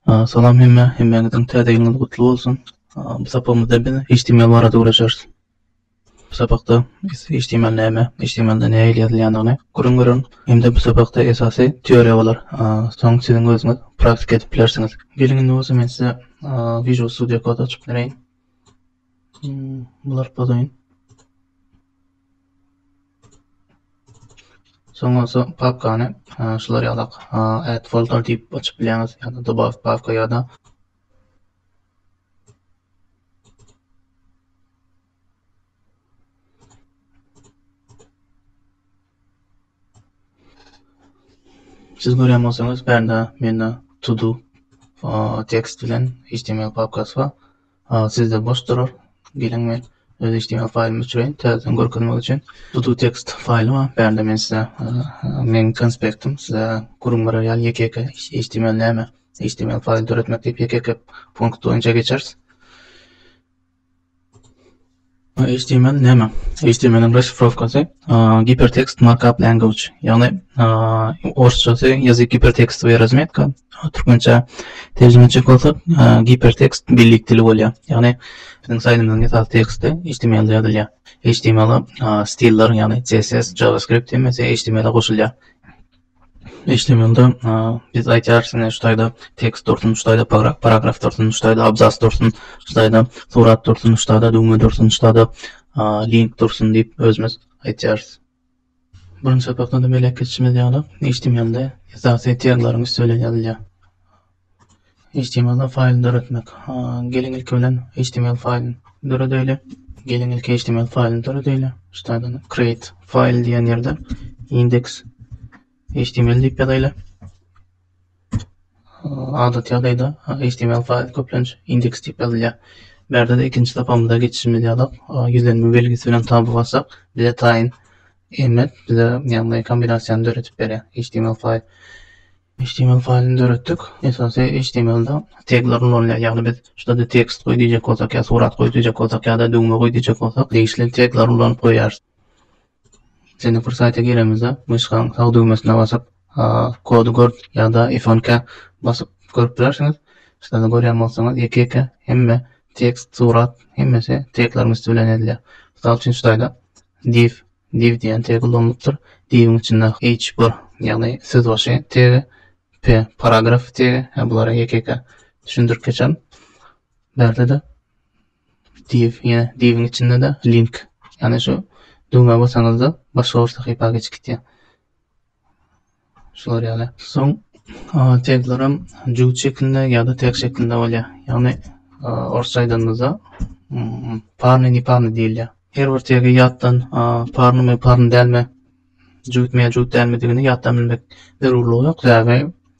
Salam hemme, hemmäňiziň täze ýylyňyz gutly bolsun. Bu sapagymyzda biz HTML barada gürleşeris. Bu sapakda biz HTML näme, HTML-de nähili ýazylýandygyny gürrüň bererin. Hem-de bu sapakda esasy teoriýa bolar. Soň siziň özüňiz praktika edip bilersiňiz. Geliň indi bolsa men size Visual Studio Code açyp bereýin. Bular pozoýin. Soň bolsa papkany şular ýalak add folder diýip açyp bilýäňiz ýa-da dobaw papka ýa-da Siz görýän bolsaňyz bärde mende to do tekst bilen html papkasy bar. Aa sizde boş durar. Geliň men öz html faýlymy öçüreýin täzeden görkezmek üçin. Tutu text faýly bar. Bärde men size meň konspektim size gürrüň berer ýaly ýeke ýeke html näme html faýly döretmek diýip ýeke ýeke punkt boýunça geçeris. HTML näme? HTML-iň raşifrowkasy Hypertext Markup Language, ýagny orsçasy ýazyk gipertekstowyýa razmetka, türkmençä terjime etjek bolsak, gipertekst birlik dili bolýar. Ýagny biziň saýtymyzyň esasy teksti HTML-de ýazylýar. HTML-a stiller, ýagny CSS, JavaScript hemmesi HTML-a goşulýar. HTML-de biz aýdýarys ine şu taýda tekst dursun, şu taýda paragraf dursun, şu taýda abzas dursun, şu taýda surat dursun, şu taýda düwme dursun, şu taýda link dursun diýip özümiz aýdýarys. Birinji sapakda-da belek geçişimiz ýaly, HTML-de esasy tegleriň üsti bilen ýazylýar. Html-da faýl döretmek. Geliň ilki bilen html faýlyny döredeýli. Geliň ilki html faýlyny döredeýli. Ştadan create file diýen ýerden index html diýip ýazaýly. Adaty ýagdaýda html faýl köplenç index diýip ýazylýar. Bärde de ikinji sapamyza geçişimiz ýalyk, ýüzlenme belgisi bilen taba bassak, bize taýyn emet, bize ýagny kombinasiýany döredip berýär html faýl. Html faýlyny döretdik. Esasy html-da tegler ulanylýar. Ýagny biz şu ýerde tekst goý diýjek bolsak ýa surat goý diýjek bolsak ýa-da düwme goý diýjek bolsak degişli tegleri ulanyp goýýarys. Seni bir saýta giremizde myşkaň sag düwmesine basyp kody gör ýa-da ifonka basyp görüp bilersiňiz. Şu ýerde görýän bolsaňyz ýeke-ýeke hemme tekst, surat hemmesi tegler üsti bilen edilýär. Mysal üçin şu ýerde div Div diýen tegi ulanylypdyr. Diwiň içinde H bir, ýagny sözbaşy tegi, P paragraf tegi, hä bulary ýeke-ýeke düşündirip geçerin. Bärde-de div, ýa diwiň içinde-de link, ýagny şu düwmä basaňyzda başga bir sahypa geçip gitýär. Şular ýaly. Soň taglaram jübüt şeklinde ýa-da tek şeklinde bolýar. Ýagny orsça aýdanymyzda parny ni parny diýilýär. Her bir tegi ýatdan parnymy parny dälmi jübütmi ýa jübüt dälmidigini ýatdan bilmek zerurlygy ýok. Sebäbi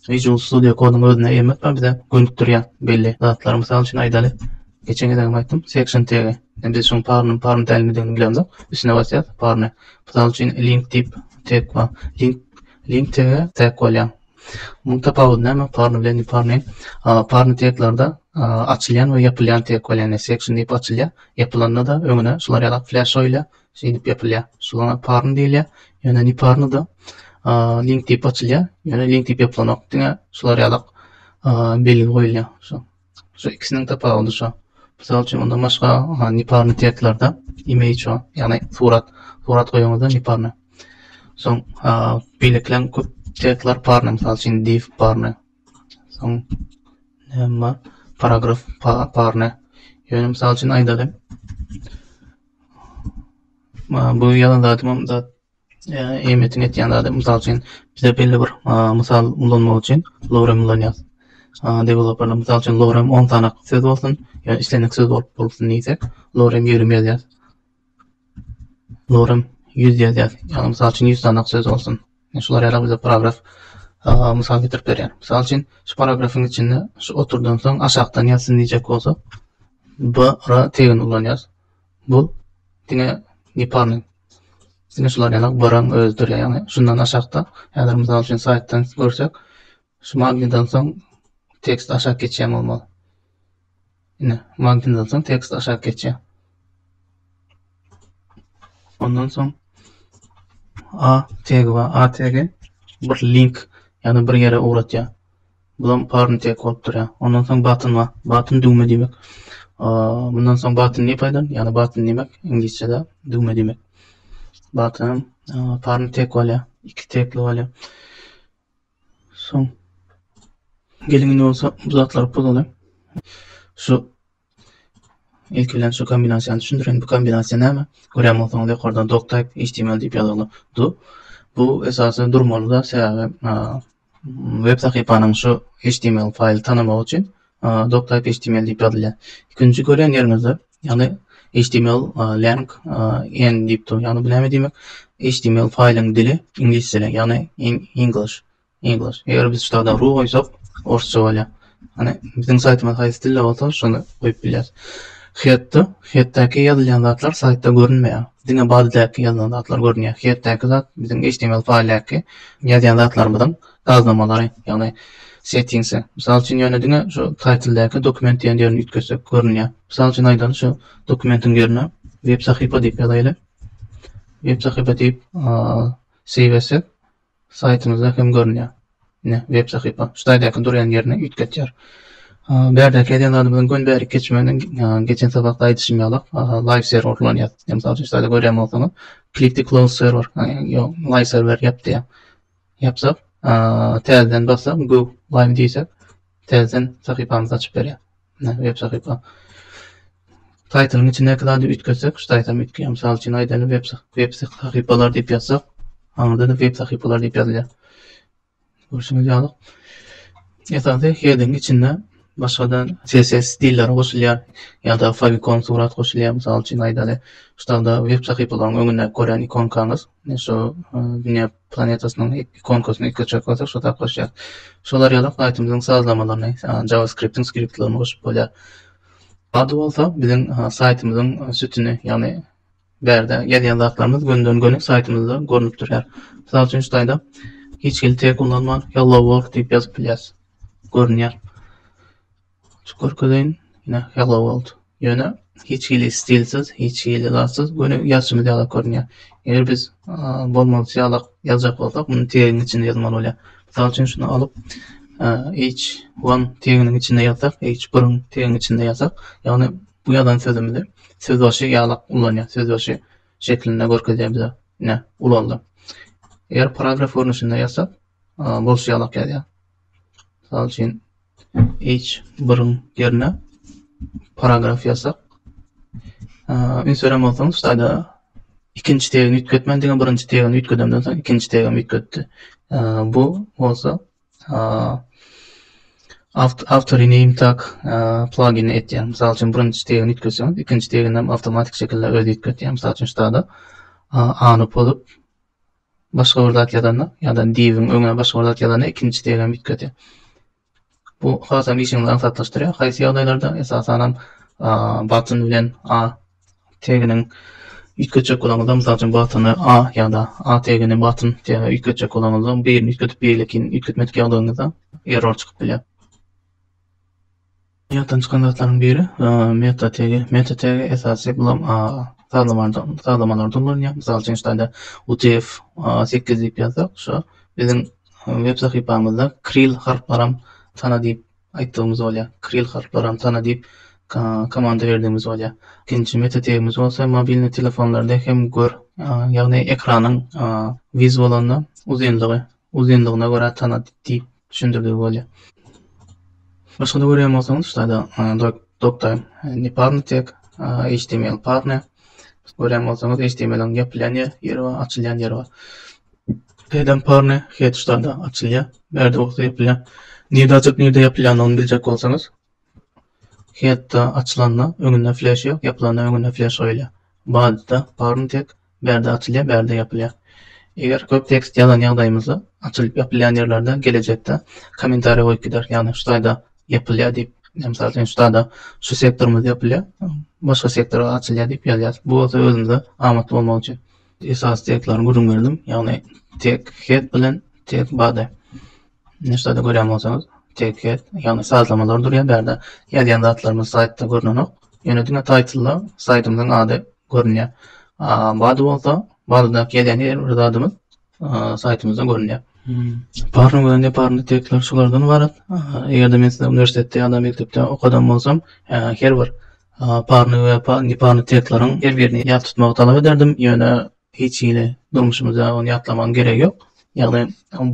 Visual Studio Code'uň özüne eýe etmän bize gönükdirýän belli zatlary mysal üçin aýdaly. Geçen gezegem aýtdym, section tegi. Biz şuň parnymy, parny dälimidigini bilemzok. Üstüne basýas, parny. Mysal üçin link diýip tag bar. Link link tege tag bolýar. Muň tapawudy näme? Parny bilen ne parny? Parny teglerde açylýan we ýapylýan tag bolýar. Section diýip açylýar. Ýapylanda-da öňüne şular ýaly flash oýla Şeýdip ýapylýar. Şuňa parny diýilýär. Ýöne neparny-da link diýip açylýar. Ýöne link diýip ýapylanok. Diňe şular ýalak belgi goýulýar. Şu. Şu ikisiniň tapawudy şu. Mysal üçin, onda başga neparny tekstlerde image şu, ýagny surat, surat goýaňyzda neparny. Soň beýlekileň köp tekstler parny, mysal üçin div parny. Soň näme bar? Paragraf parny. Ýöne mysal üçin aýdaly. Bu ýazan zadymam zat ähmiýetini etýän zady. Mysal üçin, bize belli bir mysal ulanmak üçin lorem ulanýarys. Deweloperler mysal üçin lorem on sanak söz bolsun, ýa islendik söz bolup bolsun diýsek, lorem ýigrimi ýazýarys. Lorem ýüz ýazýarys. Ýagny, mysal üçin, ýüz sanak söz bolsun. Ine, şular ýaly bize paragraf mysal getirip berýär. Mysal üçin, şu paragrafyň içinde şu oturdan soň aşakdan ýazsyn diýjek bolsak, b r tegini ulanýarys. Bu diňe neparnyý. Diňe şular ýaly b r-yň özüdir, ýagny şundan aşakda, häzir mysal üçin saýtdan görsek, Şu magnitdan soň tekst aşak geçýär bolmaly. Ine, magnitdan soň tekst aşak geçýär. Ondan soň A tegi we A tegi bir link, ýagny bir ýere ugratýar. Bulam parn tek bolup durýar. Ondan soň button bar. Button düwme diýmek. Bundan soň button ne paýdan? Ýagny button diýmek inglizçede düwme diýmek. Button parn tek bolýar. Iki tekli bolýar. Soň geliň indi bolsa bu zatlary pozalyň. Şu ilki bilen şu kombinasiýany düşündirin. Bu kombinasiýa näme? Görýän bolsaňyz ýokarda doc type html diýip ýazylgy. Du. Bu esasy durmaly zat sebäbi web sahypanyň şu html faýly tanamagy üçin Doctype HTML diýip ýazylýar. Ikinji görýän ýeriňizde, ýagny HTML lang en diýip dur. Ýagny bu näme diýmek? HTML faýlyň dili iňlis dili, ýagny English. English. Eger biz ştada ru goýsak, orsça bolýar. Hani biziň saýtymyz haýsy dilde bolsa, şony goýup bilýäris. Hetda, hetdäki ýazylýan zatlar saýtda görünmeýär. Diňe badydaky ýazylan zatlar görünýär. Hetdäki zat biziň HTML faýldaky ýazýan zatlarymyzyň Sazlamalary, ýagny Settings-e. Mysal üçin, ýöne diňe şu Title-däki Dokument diýen ýerini üýtgetsek, görünýär. Mysal üçin aýdaly, şu dokumentiň ýerine Web sahypa diýip ýazaýly. Web sahypa diýip Save etsek, saýtymyzda hem görünýär. Ine, Web sahypa. Şu taýdaky durýan ýerine üýtgetýär. Bu ýerdäki edýän zadymyzyň göni bärik geçmegini, geçen sabakda aýdyşym ýaly, Live serwer ulanýarys. Ine, mysal üçin, şu taýda görýän bolsaňyz, Click to close server, ýa Live serwer ýap diýýär. Ýapsak, täzeden bassak, go live diýsek, täzeden sahypamyzy açyp berýär. Mine web sahypa. Title-yň içindäki zady üýtgetsek, şu taýtam üýtgeýär. Mysal üçin aýdaly web web sahypalar diýip ýazsak, aňyrda-da web sahypalar diýip ýazylýar. Görşüňiz ýaly. Esasy heading içinde başga-da CSS stilleri goşulýar ýa-da favicon surat goşulýar. Mysal üçin aýdaly, şu tagda web sahypalaryň öňündäki görýän ikonkaňyz, şu dünýä planetasynyň ikonkasyny iki çak basyp şo tap goşýar. Şol arýalam saýtymyzyň sazlamalaryny, JavaScript-iň skriptlerini goşup bolýar. Ady bolsa biziň saýtymyzyň sütüni, ýagny bärde ýazýan zatlarymyz gönden göni saýtymyzda görnüp durýar. Mysal üçin şu taýda hiç hili tag ullanman Hello World diýip ýazyp bilýäris. Görünýär. Şu görkezeýin ine Hello World. Ýöne hiç hili stilsiz, hiç hili zatsyz göni ýazşymyz ýaly görünýär. Eger biz bolmalysy ýaly ýazjak bolsak muny tegiň içinde ýazmaly bolýar. Mysal üçin şuny alyp H1 teginiň içinde ýazsak, H1-iň teginiň içinde ýazsak, ýagny bu ýazan sözümizi sözbaşy ýaly ullanýar, sözbaşy şeklinde görkezýär bize. Ine ulaldy. Eger paragraf görnüşinde ýazsak bolşy ýaly ýazýar. Mysal üçin, H biriň ýerine paragraf ýazsak, üns beren bolsaňyz, şu taýda ikinji tegini üýtgetmän, diňe birinji tegini üýtgedemden soň ikinji tegimi üýtgetdi. Bu bolsa awtory name tag plagini etýär. Mysal üçin, birinji tegini üýtgetseňiz, ikinji teginem awtomatik şekilde özi üýtgetýär. Mysal üçin, şu taýda A-ny pozup, başga bir zat ýazanda ýa-da diýibiň öňüne başga bir zat ýazanda ikinji degem üýtgedýär. Bu hasam işiňizi aňsatlaşdyrýar. Haýsy ýagdaýlarda esasanam batyn bilen a teginiň üýtgetjek bolanyňyzda, mysal üçin batyny a ýa-da a tegini batyn tege üýtgetjek bolanyňyzda, birini üýtgedip beýlekini üýtgetmedik ýagdaýyňyzda error çykyp bilýär. Ýatdan çykan zatlaryň biri meta tegi. Meta tegi esasy bulam sazlamalary sazlamalarda ulanylýar. Mysal üçin şeýle utf sekiz diýip ýazsak şo biziň web sahypamyzda kril harplaram tana diýip aýtdygymyz bolýar. Kril harplaram tana diýip komanda berdigimiz bolýar. Ikinji meta tegimiz bolsa mobilni telefonlarda hem gör ýagny ekranyň wiz bolanda uzynlygy uzynlygyna görä tana diýip düşündirdigi bolýar. Başga-da görýän bolsaňyz, şularda doktor neparnitek, HTML partner. Görýän bolsaňyz, HTML-iň ýapylýan ýeri bar, açylýan ýeri bar. Headem parne, head şularda açylýar, bärde bolsa ýapylýar. Nirde açyp, nirde ýapylýandygyny biljek bolsaňyz, Hetda açylanda öňünde fleş ýok, ýapylanda öňünde fleş goýulýar. Badda parn tek bärde açylýar, bärde ýapylýar. Eger köp tekst ýazan ýagdaýymyzda açylyp ýapylýan ýerlerde gelejekde kommentariýa goýup gideris. Ýagny şu taýda ýapylýar diýip, mysal üçin şu taýda şu sektorymyz ýapylýar, başga sektor açylýar diýip ýazýas. Bu bolsa özümize amatly bolmagy üçin. Esasy tekstleri gürrüň berdim. Ýagny tek het bilen tek body. Nirşada görýän bolsaňyz teget ýagny sazlamalar durýar bärde ýazýan zatlarymyz saýtda görnenok ýöne diňe taýtlda saýtymyzyň ady görünýär bady bolsa badydaky ýazýan her bir zadymyz saýtymyzda görünýär. Parny we neparny tekstler şulardan ybarat. Eger-de men size uniwersitetde ýa-da mekdepde okadan bolsam, her bir parny we neparny tekstleriň her birini ýat tutmagy talap ederdim, ýöne Hiç hili durmuşymyzda ony ýatlamagyň geregi ýok. Ýagny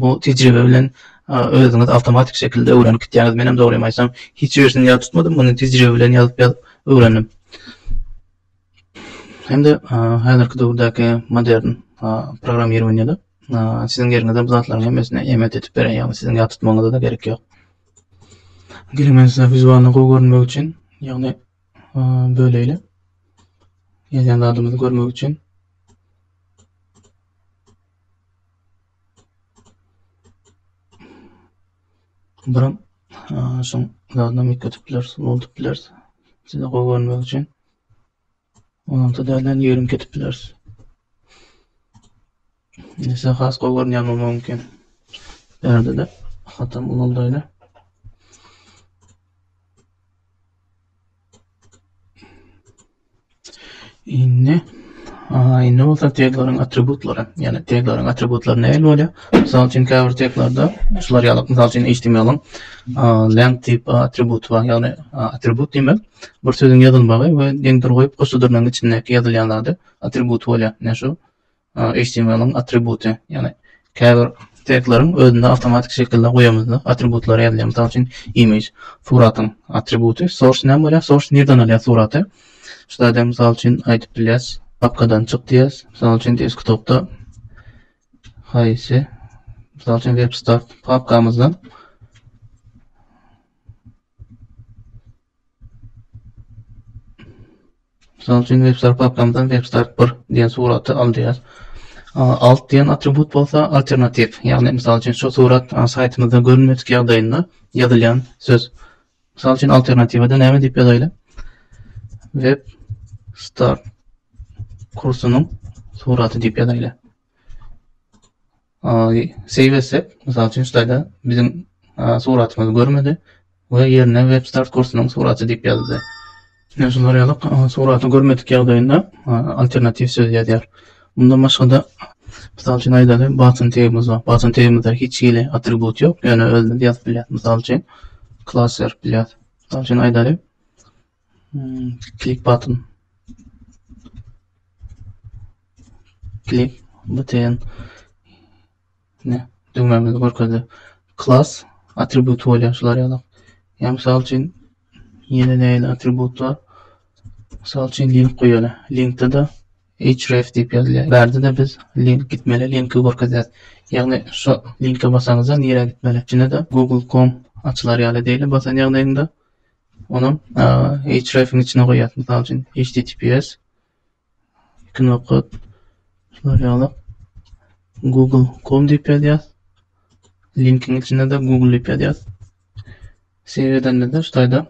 bu tejribe bilen özüňiz awtomatik şekilde öwrenip gitýäňiz. Menem dogrymy aýtsam, hiç birisini ýat tutmadym, muny tejribe bilen ýazyp-ýazyp öwrendim. Hem-de häzirki döwürdäki modern programmirowaniýede siziň ýeriňize bu zatlaryň hemmesini eýemit edip berer, ýagny siziň ýat tutmagyňyza-da gerek ýok. Geliň, men size wizualny gowy görünmek üçin, ýagny böleýli. Ýazýan zadymyzy görmek üçin. Buram şoň zadyna ýetip bileris, bolup bileris. Size gowy görmek üçin. Ondan däl, ýerim ketip bileris. Nese has gowy görünýär mama öňki bärde-de hatam ulaldaýda. Indi Aý, indi bolsa tegleriň atributlary. Ýani tegleriň atributlary nähili bolýar? Mysal üçin, käbir teglerde şular ýaly, mysal üçin HTML-iň length tip atributy bar. Ýagny atribut diýmek, bir sözüň ýazylmagy we deňdir goýup, goşudyrnyň içindäki ýazylýan zady atribut bolýar. Näme şu? HTML-iň atributy, ýagny käbir tegleriň özünde awtomatik şekilde goýamyzda atributlary ýazylýar. Mysal üçin, image, suratyň atributy, source näme bolýar? Source nirden alýar suraty? Şu zady mysal üçin aýdyp bilýäs. Papkadan çyk diýýäs. Mysal üçin, desktopda haýsy? Mysal üçin, webstart papkamyzdan Mysal üçin, webstart papkamyzdan webstart bir diýen suraty al diýýäs. Alt diýen atribut bolsa alternatiw, ýagny mysal üçin şu surat saýtymyzda görünmedik ýagdaýynda ýazylýan söz. Mysal üçin alternatiwada näme diýip ýazaýly? Web start kursunyň suraty diýip ýazaýly. Save etsek, mysal üçin, şu taýda biziň suratymyzy görmedi we ýerine WebStart kursunyň suraty diýip ýazdy. Ine, şu zarýalyk suraty görmedik ýagdaýynda alternatiw söz ýazýar. Mundan başga-da, mysal üçin aýdaly, button tagymyz bar. Button tagymyzda hiç hili atribut ýok, ýöne özümiz ýazyp bilýäris. Mysal üçin, klass berip bilýäris. Mysal üçin aýdaly, Klik button. Klik button. Ne? Düwmämizi görkezdi. Class atribut bolýar şular ýaly. Ýa mysal üçin ýene näil atribut bar? Mysal üçin link goýaly. Linkde de href diýip ýazylýar. Bärde de biz link gitmeli linki görkezýäs. Ýagny şu linke basaňyzda nirä gitmeli? Içinde de google.com açylar ýaly diýeli basan ýagdaýyňda Ony href'iň içine goýýas. Mysal üçin, https iki nokat şular ýaly google.com diýip ýazýas. Linkiň içinde de google diýip ýazýas. Save edende-de şu taýda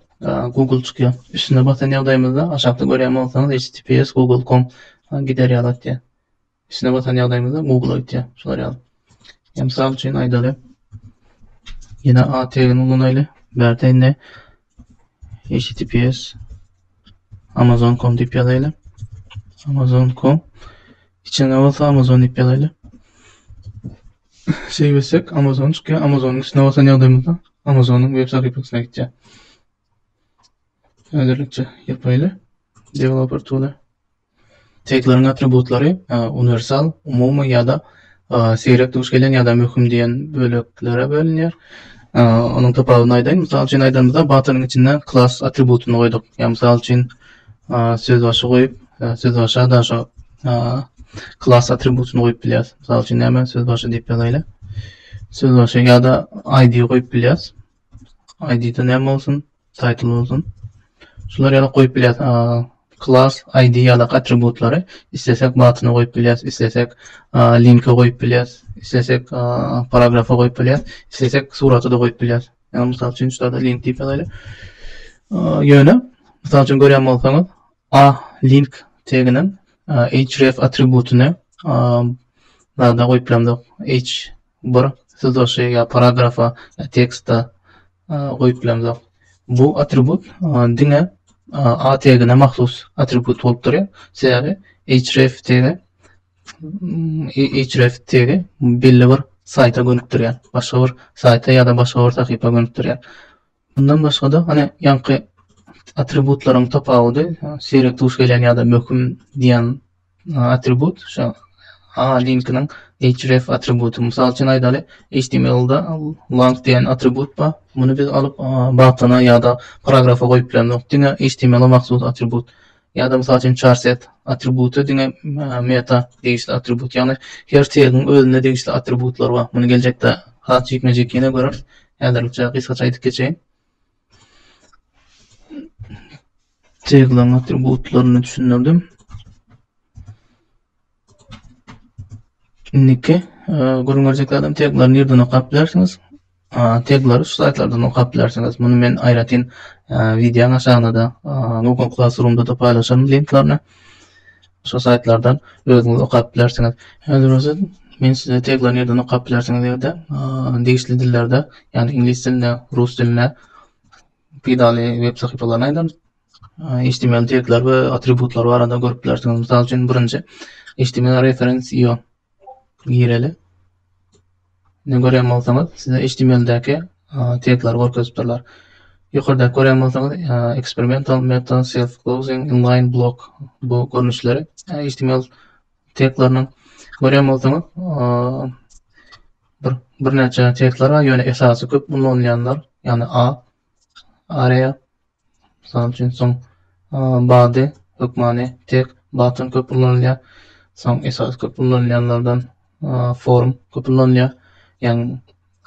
google çykýar. Üstüne basan ýagdaýymyzda aşakda görýän bolsaňyz https google.com gider ýaly atýar. Içine batan ýagdaýymyzda Google aýtýar. Şular ýaly. Hem sal üçin aýdaly. Ýene A tegini ulanaýly. Bärde indi https amazon.com diýip ýazaýly. Amazon.com içine bolsa Amazon diýip ýazaýly. Şey bilsek Amazon çünki Amazonyň üstüne basan ýagdaýymyzda Amazonyň web sahypasyna gitýär. Häzirlikçe ýapaýly. Developer tool. Tegleriň atributlary uniwersal, umumy ýa-da seýrek duş gelen ýa-da möhüm diýen böleklere bölünýär. Onuň tapawudyny aýdaýyn. Mysal üçin aýdanymyzda batonyň içinde klass atributyny goýduk. Ýa mysal üçin sözbaşy goýup, sözbaşa da şo klass atributyny goýup bilýäris. Mysal üçin näme sözbaşy diýip ýazaýly. Sözbaşy ýa-da ID goýup bilýäris. ID-de näme bolsun? Title bolsun. Şular ýaly goýup bilýäs. Class ID ýaly atributlary islesek batyna goýup bilýäs, islesek linke goýup bilýäs, islesek paragrafa goýup bilýäs, islesek surata da goýup bilýäs. Ýa mysal üçin şurada link diýip ýazaýly. Ýöne mysal üçin görýän bolsaňyz, A link teginiň href atributyny zada goýup bilemzok. H bir sözbaşy ýa paragrafa ýa teksta goýup bilemzok. Bu atribut diňe A tegine mahsus atribut bolup durýar. Sebäbi href tegi href tegi belli bir saýta gönükdirýär. Başga bir saýta ýa-da başga bir sahypa gönükdirýär. Mundan başga-da, hany, ýaňky atributlaryň tapawudy, seýrek duş gelýän ýa-da möhüm diýen atribut, şu A-linkiniň href atributy. Mysal üçin aýdaly, HTML-da lang diýen atribut bar. Muny biz alyp, batona ýa-da paragrafa goýup bilemzok. Diňe HTML-e mahsus atribut. Ýa-da, mysal üçin, charset atributy diňe meta degişli atribut. Ýagny her tegiň özüne degişli atributlary bar. Muny geljekde has jikme-jik ýene göreris. Häzirlikçe gysgaça aýdyp geçeýin. Tegleriň atributlaryny düşündirdim. Indiki gürrüň berjek adam teglary nirden okap bilersiňiz? Teglary şu saýtlardan okap bilersiňiz. Muny men aýratyn wideoň aşagynda-da Google Classroom-da-da paýlaşaryn linklaryny. Şu saýtlardan özüňiz okap bilersiňiz. Häzir bolsa men size teglary nirden okap bilersiňiz diýende, degişli dillerde, ýagny iňlis dilinde, rus dilinde peýdaly web sahypalaryny aýdaryn. HTML tekler we atributlar barada görüp bilersiňiz. Mysal üçin, birinji HTML reference io gireli. Ne görýän bolsaňyz, size HTML-däki tekleri görkezip durlar. Ýokarda görýän bolsaňyz, experimental meta self closing inline block bu görnüşleri HTML tekleriniň görýän bolsaňyz, bir birnäçe tekler bar, ýöne esasy köp ulanylýanlar, ýagny A Areýa, mysal üçin, soň bady, hökmany, tek, batyn köp ulanylýar. Soň esasy köp ulanylýanlardan form köp ulanylýar. Ýagny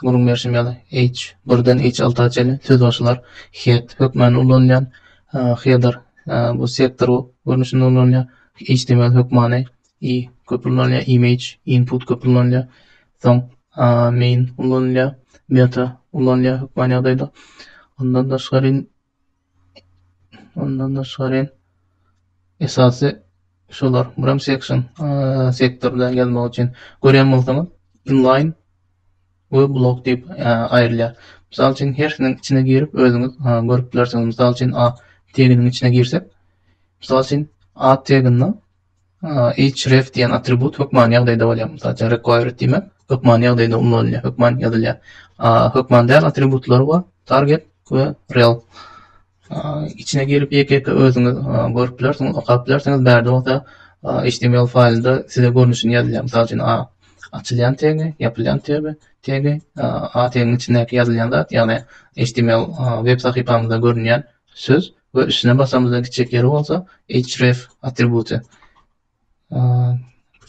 gürrüň berşim ýaly H birden H alta çenli sözbaşylar head hökmany ulanylýan header bu sektor görnüşinde ulanylýar. HTML hökmany i köp ullanylýar, image, input köp ullanylýar. Soň main ullanylýar, meta ullanylýar hökman ýagdaýda. Ondan daşgary ondan daşgary esasy şolar. Buram section sektorda ýazmak üçin görýän bolsaňyz inline we blok diýip aýrylýar. Mysal üçin hersiniň içine girip özüňiz görüp bilersiňiz. Mysal üçin a teginiň içine girsek, mysal üçin a teginde href diýen atribut hökman ýagdaýda bolýar. Mysal üçin required diýmek hökman ýagdaýda ullanylýar, hökman ýazylýar. Hökman däl atributlary bar. Target we rel. Içine girip ýeke-ýeke özüňiz görüp bilersiňiz, okap bilersiňiz. Bärde bolsa HTML faýlynda size görnüşini ýazylýar. Mysal üçin a açylýan tegi, ýapylýan tegi, tegi a tegiň içindäki ýazylýan zat, ýagny HTML web sahypamyzda görünýän söz we üstüne basamyzda gitjek ýeri bolsa href atributy.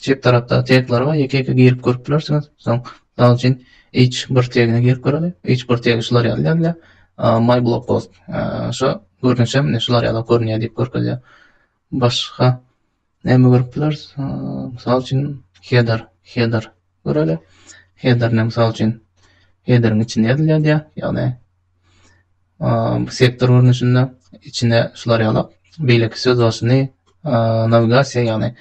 Çep tarapda tegler we ýeke-ýeke girip görüp bilersiňiz. Soň misal üçin h1 tegine girip göreli. H1 tegi şular ýaly ýazýar. My blog post. Şu görnüşe mine şular ýaly görünýär diýip görkezýär. Başga näme görüp bileris? Mysal üçin, header, header göreli. Header näme mysal üçin? Headeriň içinde ýazylýar diýýär. Ýagny sektor görnüşinde içine şular ýaly beýleki söz başyny nawigasiýa ýagny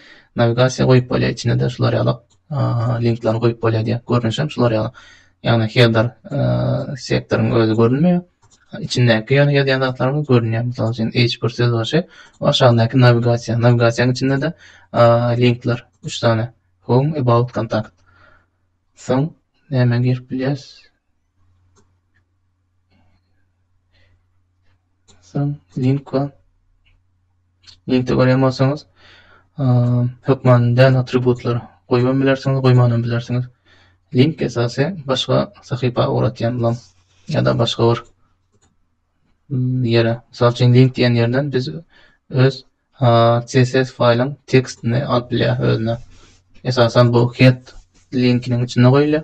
nawigasiýa goýup bolýar içine-de şular ýaly. linkleri goýup bolýar diýýär. Görnüşi hem şular ýaly. Ýagny header sektoryň özi görünmeýär. Içindäki ýöne ýazýan zatlarymyz görünýär. Mysal üçin H1 söz başy we aşagyndaky nawigasiýa. Nawigasiýanyň içinde-de linkler 3 sany. Home, about, contact. Soň näme girip bilýäris? Sen link var. Linkde görýän bolsaňyz, hökman däl atributlar goýup bilersiňiz, goýman hem bilersiňiz. Link esasy başga sahypa ugratýan bolam ýa-da başga bir ýere. Mysal üçin link diýen ýerden biz öz CSS faýlyň tekstini alyp bilýär özüne. Esasan bu head linkiniň içinde goýulýar.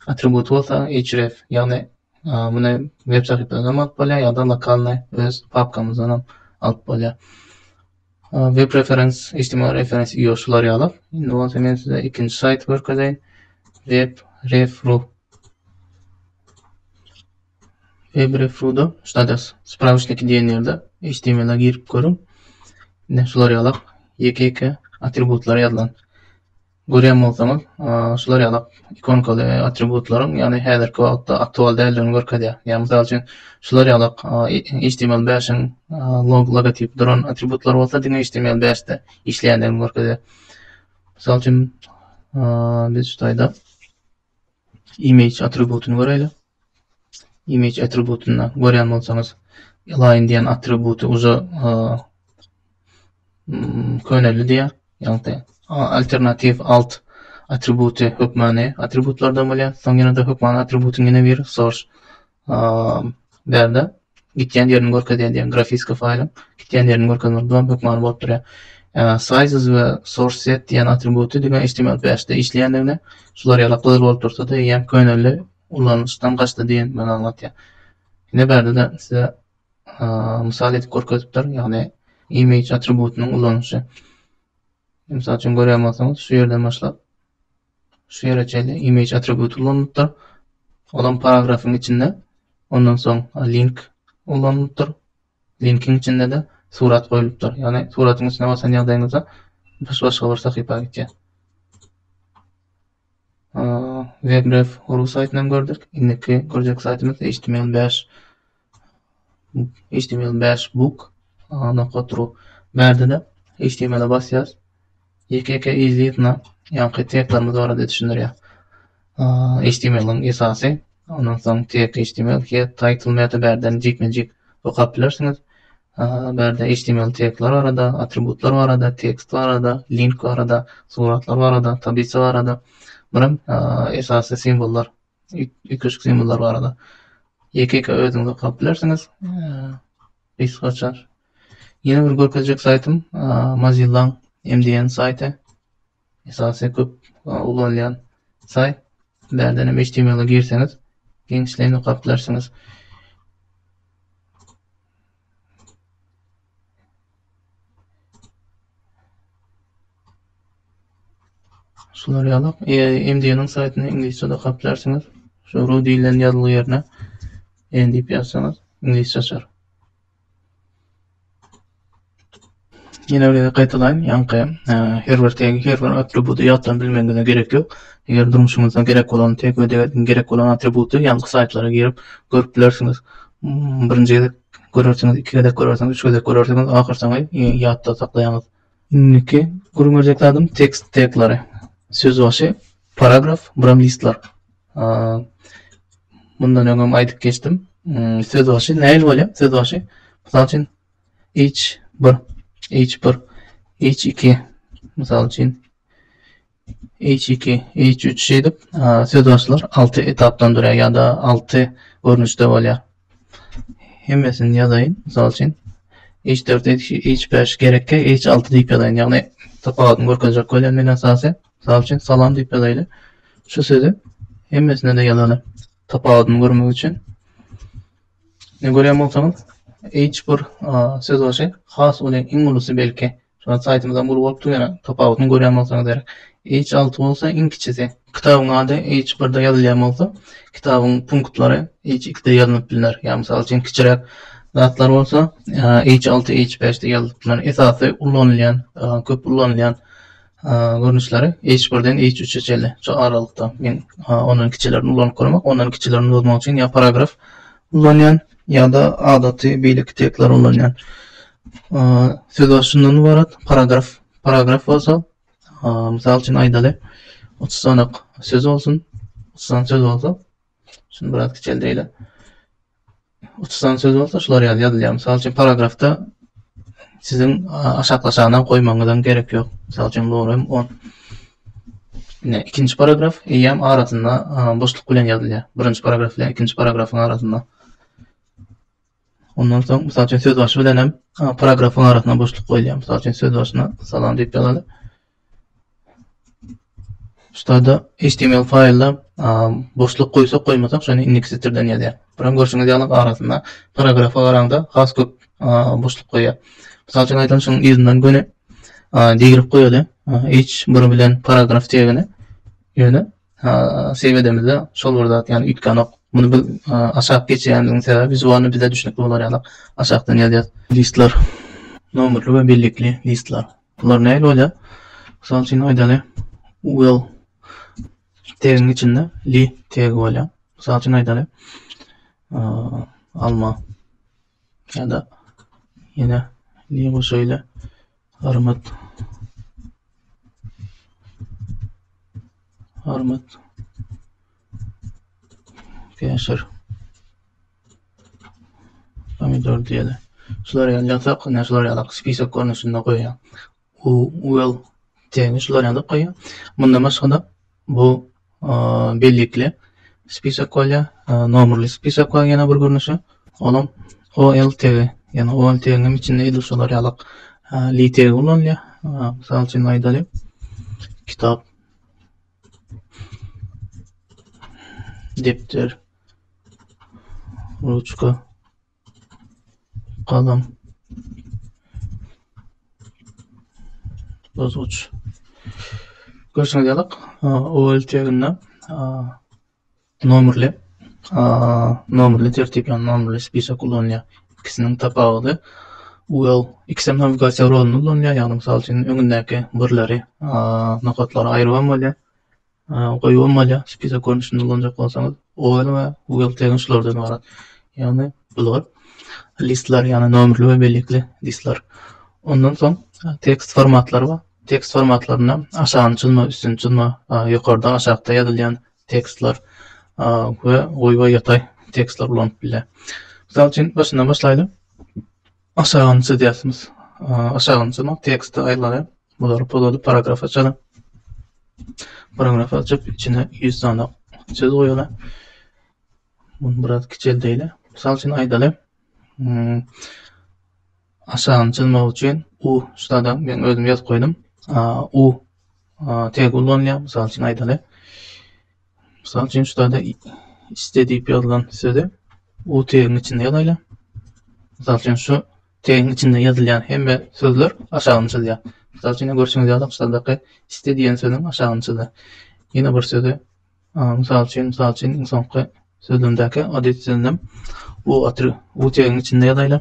Atribut bolsa href, ýagny muny web sahypadan hem alyp bolýar ýa-da lokalny öz papkamyzdan hem alyp bolýar. Web reference, HTML reference ýok şular ýaly. Indi bolsa men size ikinji saýty görkezeýin. Web ref ru. Febrefrudo, Status, Sprawyçniki diýen ýerde HTML-a girip görüň. Ine şular ýalak ýeke-ýeke atributlar ýazylan. Görýän bolsaňyz, şular ýalak ikonkaly atributlaryň, ýagny häzirki wagtda aktual däldigini görkezýär. Ýagny mysal üçin, şular ýalak HTML5-iň log logotipi duran atributlar bolsa diňe HTML5-de işleýändigini görkezýär. Mysal üçin, biz şu taýda image atributyny göräýli. Image atributynda görýän bolsaňyz, align diýen atributy uza köneldi diýýär. Ýagny alternatiw alt atributy hökmany atributlardan bolýar. Soň ýene-de hökmany atributyň ýene biri source Bärde gitýän ýerini görkezýän diýen grafiska faýlyň gitýän ýerini görkezmek down hökmany bolup durýar. Sizes we source set diýen atributy diňe HTML bäşde işleýändigini, şular ýaly gyzyl bolup dursa-da eýýäm köneldi, ulanyşdan gaçdy diýendigini aňladýar. Ine bärde-de size mysal edip görkezipdir, ýagny image atributynyň ulanyşy. Mysal üçin görýän bolsaňyz şu ýerden başlap Şu ýere çenli image atributy ulanylypdyr. Olam paragrafyň içinde. Ondan soň link ulanylypdyr. Linkiň içinde-de surat goýulypdyr. Ýagny suratyň üstüne basan ýagdaýyňyzda düş başga bir sahypa gitýär. WebRef.ru saýtyny hem gördük. Indiki görjek saýtymyz HTML5. Html bäş book nokat ru bärde-de html-e basýas. Ýeke-ýeke yzly-yzyna ýaňky taglarymyz barada düşündirýär. Html-iň esasy, ondan soň tag html, head, title, meta bärden jikme-jik okap bilersiňiz. Bärde html taglar barada, atributlar barada, tekst barada, link barada, suratlar barada, tablisa barada, bir hem esasy simwollar ýüklejik simwollar barada ýeke-ýeke özüňiz okap bilersiňiz. Gysgaça. Ýene bir görkezjek saýtym Mozilla MDN saýty. Esasy köp ulanylýan saýt. Bärden hem HTML-e girseňiz, giňişleýin okap bilersiňiz. Şular ýaly MDN-iň saýtyny iňlisçede gaplarsyňyz. Şu ru diýlen ýazgy ýerine en diýip ýazsaňyz iňlisçe açar. Ýene bir gezek gaýtalaýyn, ýaňky her bir tegi, her bir atributy ýatdan bilmegiňize gerek ýok. Eger durmuşyňyzda gerek bolan teg we degerdini gerek bolan atributy ýazgy saýtlara girip görüp bilersiňiz. Birinji gezek görersiňiz, iki gezek görersiňiz, üç gezek görersiňiz, ahyrsoňy ýatda saklaýaňyz. Indiki gürrüň berjek zadym tekst teglary. Söz başy, paragraf, buram listler. Mundan öňem aýdyp geçdim. Söz başy nähili bolýar? Söz başy, mysal üçin, H bir, H bir, H iki, misal üçin H iki, H üç şeýdip söz başlar altı etapdan durýar ya da altı görnüşde bolýar. Hemmesini ýazaýyn, misal üçin H dört, H beş gerekki, H altı diýip ýazaýyn. Ýagny tapawudyny görkezjek bolýan men esasy. Misal üçin salam diýip ýazaýly. Şu sözü hemmesine de ýazaly. Tapawudyny görmek üçin. Ne görýän bolsaňyz, hiç bir söz başy has uly, iň ulusy belki. Şonda saýtymyzam uly bolup dur ýöne tapawudyny görýän bolsaňyz gerek. H6 bolsa iň kiçisi. Kitabyň ady H1-de ýazylýan bolsa, kitabyň punktlary H2-de ýaznyp bilner. Ýa mysal üçin kiçiräk zatlar bolsa H6, H5-de ýazylyp bilner. Esasy ulanylýan, köp ulanylýan görnüşleri H1-den H3-e çenli şu aralykda men ondan kiçilerini ulanyp görmek, ondan kiçilerini bozmak üçin ýa paragraf ulanýan ýa-da adaty beýleki tekstleri ulanýan. Söz baş şundan ibarat, paragraf, paragraf bolsa, mysal üçin aýdaly, 30 sanak söz bolsun, 30 sanak söz bolsa, şuny biraz kiçeldeýle. Uçsan söz bolsa şular ýaly ýazylýar. Mysal üçin paragrafda siziň aşaklaşana goýmagyňyzam gerek ýok. Mysal üçin bu hem on. Ine ikinji paragraf eýýäm arasynda boşluk bilen ýazylýar. Birinji paragraf bilen ikinji paragrafyň arasynda. Ondan soň mysal üçin söz başy bilen hem paragrafyň arasyna boşluk goýulýar. Mysal üçin söz başyna salam diýip ýazaly. Ştada HTML faýlda boşluk goýsak goýmasak şony indiki setirden ýazýar. Buram görşüňiz ýaly arasynda paragrafa garaňda has köp boşluk goýýar. Mysal üçin aýdalyň şuň yzyndan göni digrip goýaly. Hiç bir bilen paragraf tegini ýöne sebedemizde şol bir zat ýany üýtgänok. Muny biz aşak geçýänligiň sebäbi wizualny bize düşnükli bolar ýaly aşakdan ýazýar. Listler. Nomerli we bellikli listler. Bular nähili bolýar? Mysal üçin aýdaly, well teginiň içinde li tegi bolýar. Mysal üçin aýdaly, alma ýa-da ýene li goşaýly armyt armyt käşir Pomidor diýeli. Şular ýaly ýatak, ine şular ýaly spisok görnüşinde goýýar. U well tegi şular ýaly goýýar. Mundan başga-da bu bellikli spisok bolýar, nomerli spisok bolýar ýene bir görnüşi. Olam OL tegi, ýani OL tegiň içinde edil şular ýaly li tegi ulanylýar. Mysal üçin aýdaly kitap, depder, ruçka galam bozguç görşüňiz ýalyk owal teginde nomerli nomerli tertip ýa nomerli spisak ulanýar ikisiniň tapawudy ual ikisem nawigasiýa rolyny ulanýar ýagny mysal üçin öňündäki birleri nokatlary aýryp hem bolýar goýbam bolýar spisak görnüşinde ulanjak bolsaňyz oil we wheel tegin şulardan ybarat ýagny bular listler ýagny nomerli we bellikli listler ondan soň tekst formatlary bar tekst formatlarynda aşagyny çyzma üstüni çyzma ýokarda aşakda ýazylýan tekstler we goýba ýataý tekstler ulanyp bilýär mysal üçin başyndan başlaýly Aşagyny çyzýarsyňyz. Aşagyny çyzmak teksti aýlary bulary pozadyp paragrafa çyzyň. Paragrafa açyp içine 100 sany çyz goýaly. Bunu biraz kiçeldeýli. Mysal üçin aýdaly. Hmm, aşagyny çyzmak üçin u şurada men özüm ýazyp goýdum. U tegi ullanylýar. Mysal üçin aýdaly. Mysal üçin, şu zada iste diýip ýazylan sözi u tegiň içinde ýazaýla. Mysal üçin, şu tegiň içinde ýazylýan hemme sözler aşagyny çyzýar. Mysal üçin, görşüňiz ýaly, aşakdaky iste diýen sözüň aşagyny çyzdy. Ýene bir sözi, mysal üçin, mysal üçin, iň soňky sözlemdäki adet sözlem u atry u tegiň içinde ýazaýla.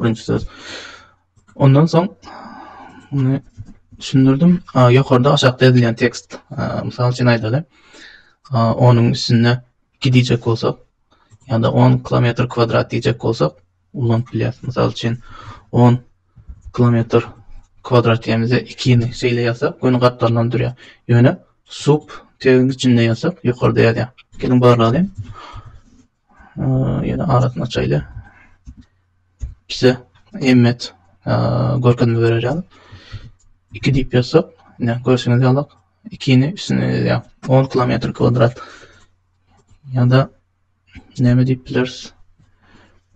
Birinci söz. Ondan soň bunu düşündirdim. Ýokarda aşakda ýazylýan tekst. Mysal üçin aýdaly. Onuň üstünde gidijek bolsak, ýa-da 10 kilometr kwadrat diýjek bolsak, ulanyp bilýäris. Mysal üçin 10 kilometr kwadrat diýmizde 2-ni şeýle ýazsak, göni gatlaryny durýar. Ýöne sub tegiň içinde ýazsak, ýokarda ýazýar. Geliň barlalyň. Ýene arasyny açaýly. Bize emmet görkezme berer ýaly. 2 diýip ýazsak, ine görşüňiz ýaly 2-ni üstüne ýazýar. 10 kilometr kwadrat. Ýa-da näme diýip bileris?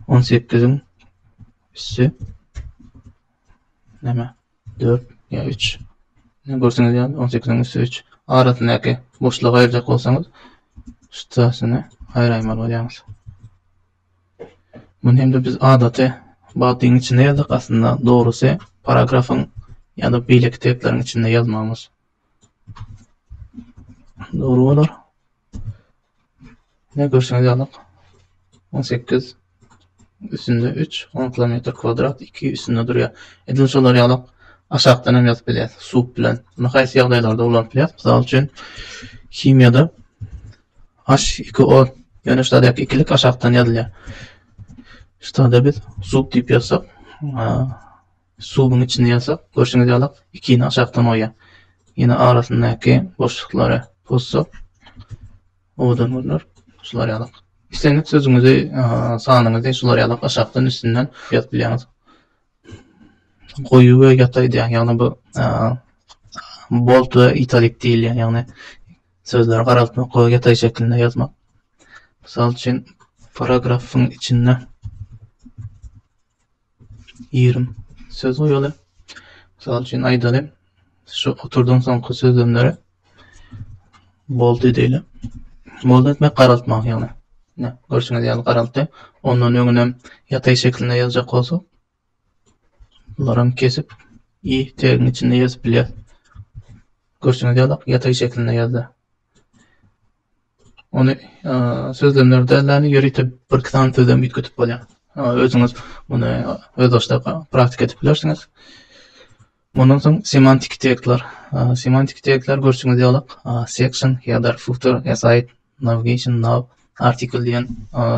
18-iň üssü näme? Dört ýa üç. Ine, görşüňiz ýaly, on sekiziň üsti üç. Arasyndaky boşlugy aýyrjak bolsaňyz, ştasyny aýraýmaly bolýaňyz. Muny hem-de biz adaty badyň içinde ýazdyk, aslynda dogrusy paragrafyň ýa-da beýleki teksleriň içinde ýazmamyz dogry bolar. Ine, görşüňiz ýaly, on sekiz üstünde üç, on kilometr kwadrat, iki üstünde durýar. Edil şolar ýaly aşakdan hem ýazyp bilýär, sup bilen. Muny haýsy ýagdaýlarda ulanyp bilýär? Mysal üçin, himiýada H2O, ýöne şudaky ikilik aşakdan ýazylýar. Şuda biz sup diýip ýazsak, Suwuň içinde ýasak, görşüňiz ýaly, ikini aşakdan goýýar. Ýene arasyndaky boşluklary pozsak, owadan görner. Şular ýaly. Islendik sözüňizi, sanyňyzy şular ýaly aşakdan üstünden ýazyp bilýäňiz. Goýy we ýata edýär. Ýagny bu bolt we italik diýilýär. Ýagny sözleri garaltmak we ýatay şeklinde ýazmak. Mysal üçin, paragrafyň içinde ýerim. Söz goýaly, mysal üçin aýdaly, şu oturdan soňky sözlemlere boldy diýeli. Boldy etmek garaltmak ýagny. Ne, görşüňiz ýaly garaltdy. Ondan öňünem ýataý şeklinde ýazjak bolsak, bularam kesip i tegiň içinde ýazyp bilýäris. Görşüňiz ýaly ýataý şeklinde ýazdy. Ony sözlemler däl-de, ýörite birki sany sözlem üýtgedip bolýar. Özüňiz muny özbaşdak praktik edip bilersiňiz. Mundan soň semantik tekstler. Semantik tekstler görşüňiz ýaly, section, header, footer, aside, navigation, nav, article diýen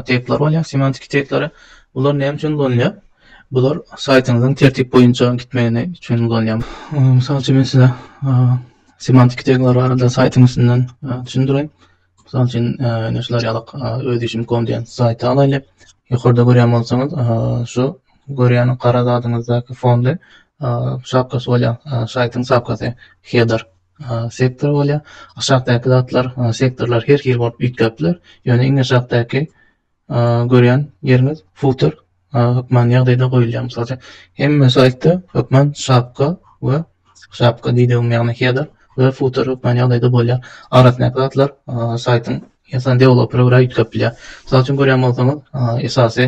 tekstler bolýar. Semantik tekstleri bular näme üçin ulanylýar? Bular saýtyňyzyň tertip boýunça gitmegini üçin ulanylýar. Mysal üçin, men size Semantiki tegler barada saýtyň üstünden düşündireýin. Mysal üçin, ine şular ýaly öz işim kom diýen saýty alaýlyk. Ýokarda görýän bolsaňyz, şu görýän gara zadyňyzdaky fonly şapkasy bolýar. Saýtyň şapkasy, header, sektor bolýar. Aşakdaky zatlar, sektorlar her hili bolup üýtgäp biler. Ýöne iň aşakdaky görýän ýeriňiz futer hökman ýagdaýda goýulýar. Mysal üçin, hemme saýtda hökman şapka we şapka diýdigim ýagny header we futer hökman ýagdaýda bolýar. Arasyndaky zatlar saýtyň ýa-da deweloper görä üýtgäp bilýär. Mysal üçin görýän bolsaňyz, esasy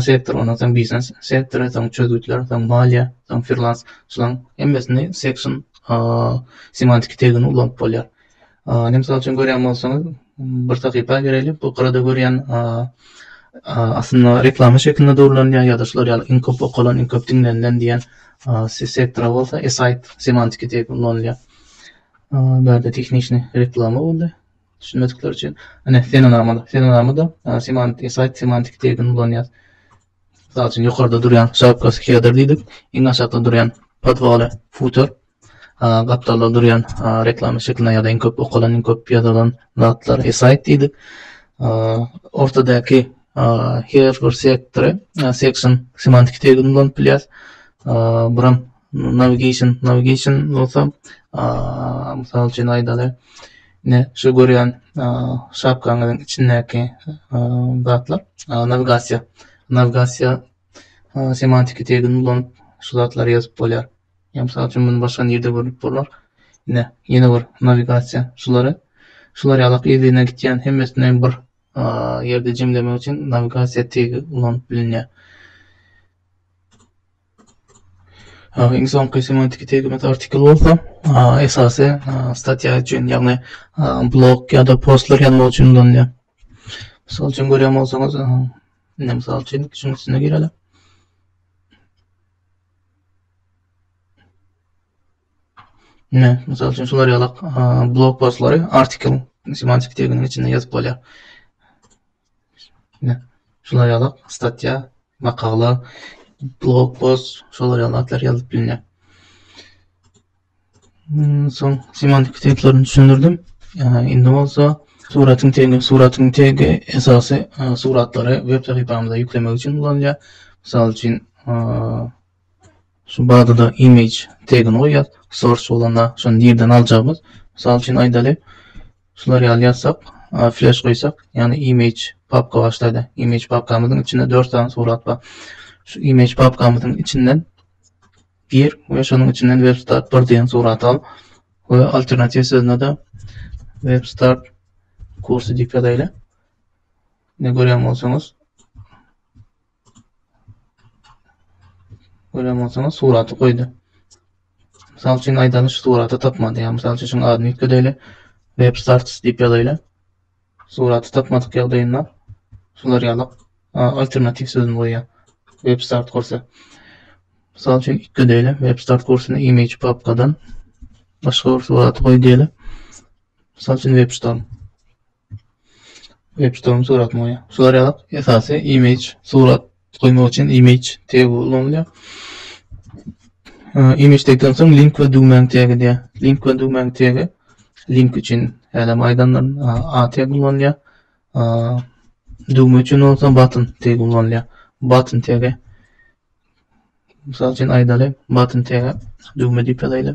sektor, ondan soň biznes sektory, soň çözgütler, soň maliýe, soň freelance, şularyň hemmesini section semantiki tegini ulanyp bolýar. Ine, mysal üçin görýän bolsaňyz, bir sahypa gireli, bu gyrada görýän aslynda reklama şeklinde durlanýar ýa-da şular ýaly iň köp okalan, iň köp diňlenilen diýen sektora bolsa e-saýt semantiki diýip ulanylýar. Bärde tehniki reklama boldy, düşünmedikler üçin. Ine, senenama, senenama-da semantiki, e-saýt semantiki diýip ulanýar. Mysal üçin, ýokarda durýan şapkasy header diýdik, iň aşakda durýan podwaly footer, gapdalda durýan reklama şekline ýa-da iň köp okalan, iň köp ýazylan zatlar saýt diýdik. Ortadaky her bir sektory, section semantiki tergini ulanyp bilýäs. Buram navigation, navigation bolsa, mysal üçin aýdaly, ine şu görýän şapkaňyzyň içindäki zatlar nawigasiýa, nawigasiýa semantiki tergini ulanyp şu zatlary ýazyp bolýar. Ýa mysal üçin muny başga nirde görüp bolar? Ine, ýene bir nawigasiýa şulary. Şular ýalak yz-yzyna gitýän hemmesini bir ýerde jemlemek üçin nawigasiýa tegi ulanyp bilinýär. Iň soňky semantiki tegimiz artikl bolsa, esasy statýa üçin, ýagny blog ýa-da postlar ýazmak üçin ulanylýar. Mysal üçin görýän bolsaňyz, indi mysal üçin şunuň üstüne gireli. Ine, mysal üçin, şular ýaly blog postlary artikel semantik teginiň içinde ýazyp bolýar. Ine, şular ýaly statýa, makala, blog post, şular ýaly zatlar ýazyp bilinýär. Soň semantik tiplaryny düşündirdim. Indi bolsa suratyň tegi, suratyň tegi esasy suratlary web sahypamyza ýüklemek üçin ulanylýar. Mysal üçin, şu barada image tegini goýýar. Source bolanda şony nirden aljagymyz? Mysal üçin aýdaly, şular ýaly ýazsak, flash goýsak, ýagny image papka başlaýda. Image papkamyzyň içinde 4 sany surat bar. Şu image papkamyzyň içinden gir we şonuň içinden WebStart 1 diýen suraty al we alternatiw sözüne-de WebStart kursy diýip ýazaýly. Ne görýän bolsaňyz, görýän bolsaňyz suraty goýdy. Mysal üçin aýdaly şu suraty tapmady. Ýa mysal üçin şuň adyny ýükledeli. Web starts diýip ýazaýly. Suraty tapmadyk ýagdaýynda şular ýaly alternatiw sözüni goýýar. Web start kursa. Mysal üçin ikki diýeli web start kursyny image papkadan başga bir suraty goý diýeli. Mysal üçin web storm. Web storm suratyny goýýar. Şular ýaly esasy image surat goýmak üçin image tegi ulanylýar. Image tegden soň link we düwmäň tegi diýär. Link we düwmäň tegi link üçin hälem aýdandan a tegi ulanylýar. Düwme üçin bolsa button tegi ulanylýar. Button tegi Mysal üçin aýdaly, button tegi düwme diýip ýazaýly.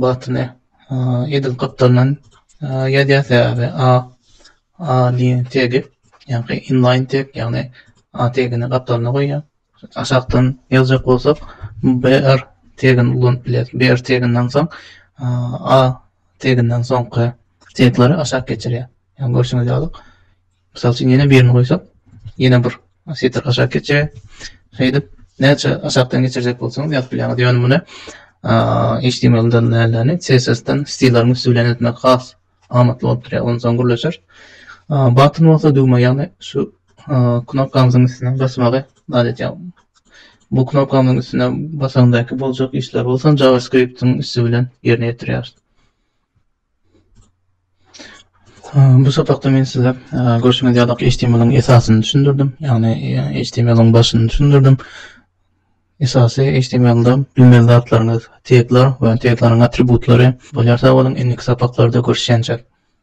Bu atyny edil gypdyrdan ýazýar, sebäbi a a lyny tegi, ýagny inlaýn teg, ýagny a tegini gapdalyna goýýar. Aşakdan ýazjak bolsak, br tegini ulanyp bileris. Br teginden soň a teginden soňky tegleri aşak geçirýär. Ýagny görşüňiz ýaly, Mysal üçin ýene birini goýsak, ýene bir setr aşak geçýär. Şeýdip, näçe aşakdan geçirjek bolsaňyz ýazyp bilýäňiz. Ýöne muny HTML-den nälerini, CSS-den stilleriň üsti bilen etmek has amatly bolup durýar. Ondan soň gürleşer. Button bolsa düwme, ýagny şu knopkamyzyň üstüne basmagy zat etýär. Bu knopkamyzyň üstüne basaňdaky boljak işler bolsa JavaScript-iň üsti bilen ýerine ýetirýäris. Bu sapakda men size görşüňiz ýaly HTML-iň esasyny düşündirdim. Ýagny HTML-iň başyny düşündirdim. Esasy HTML-de bilmeli zatlaryňyz tegler we tegleriň atributlary. Bolýar sag boluň, indiki sapaklarda görüşýänçäk.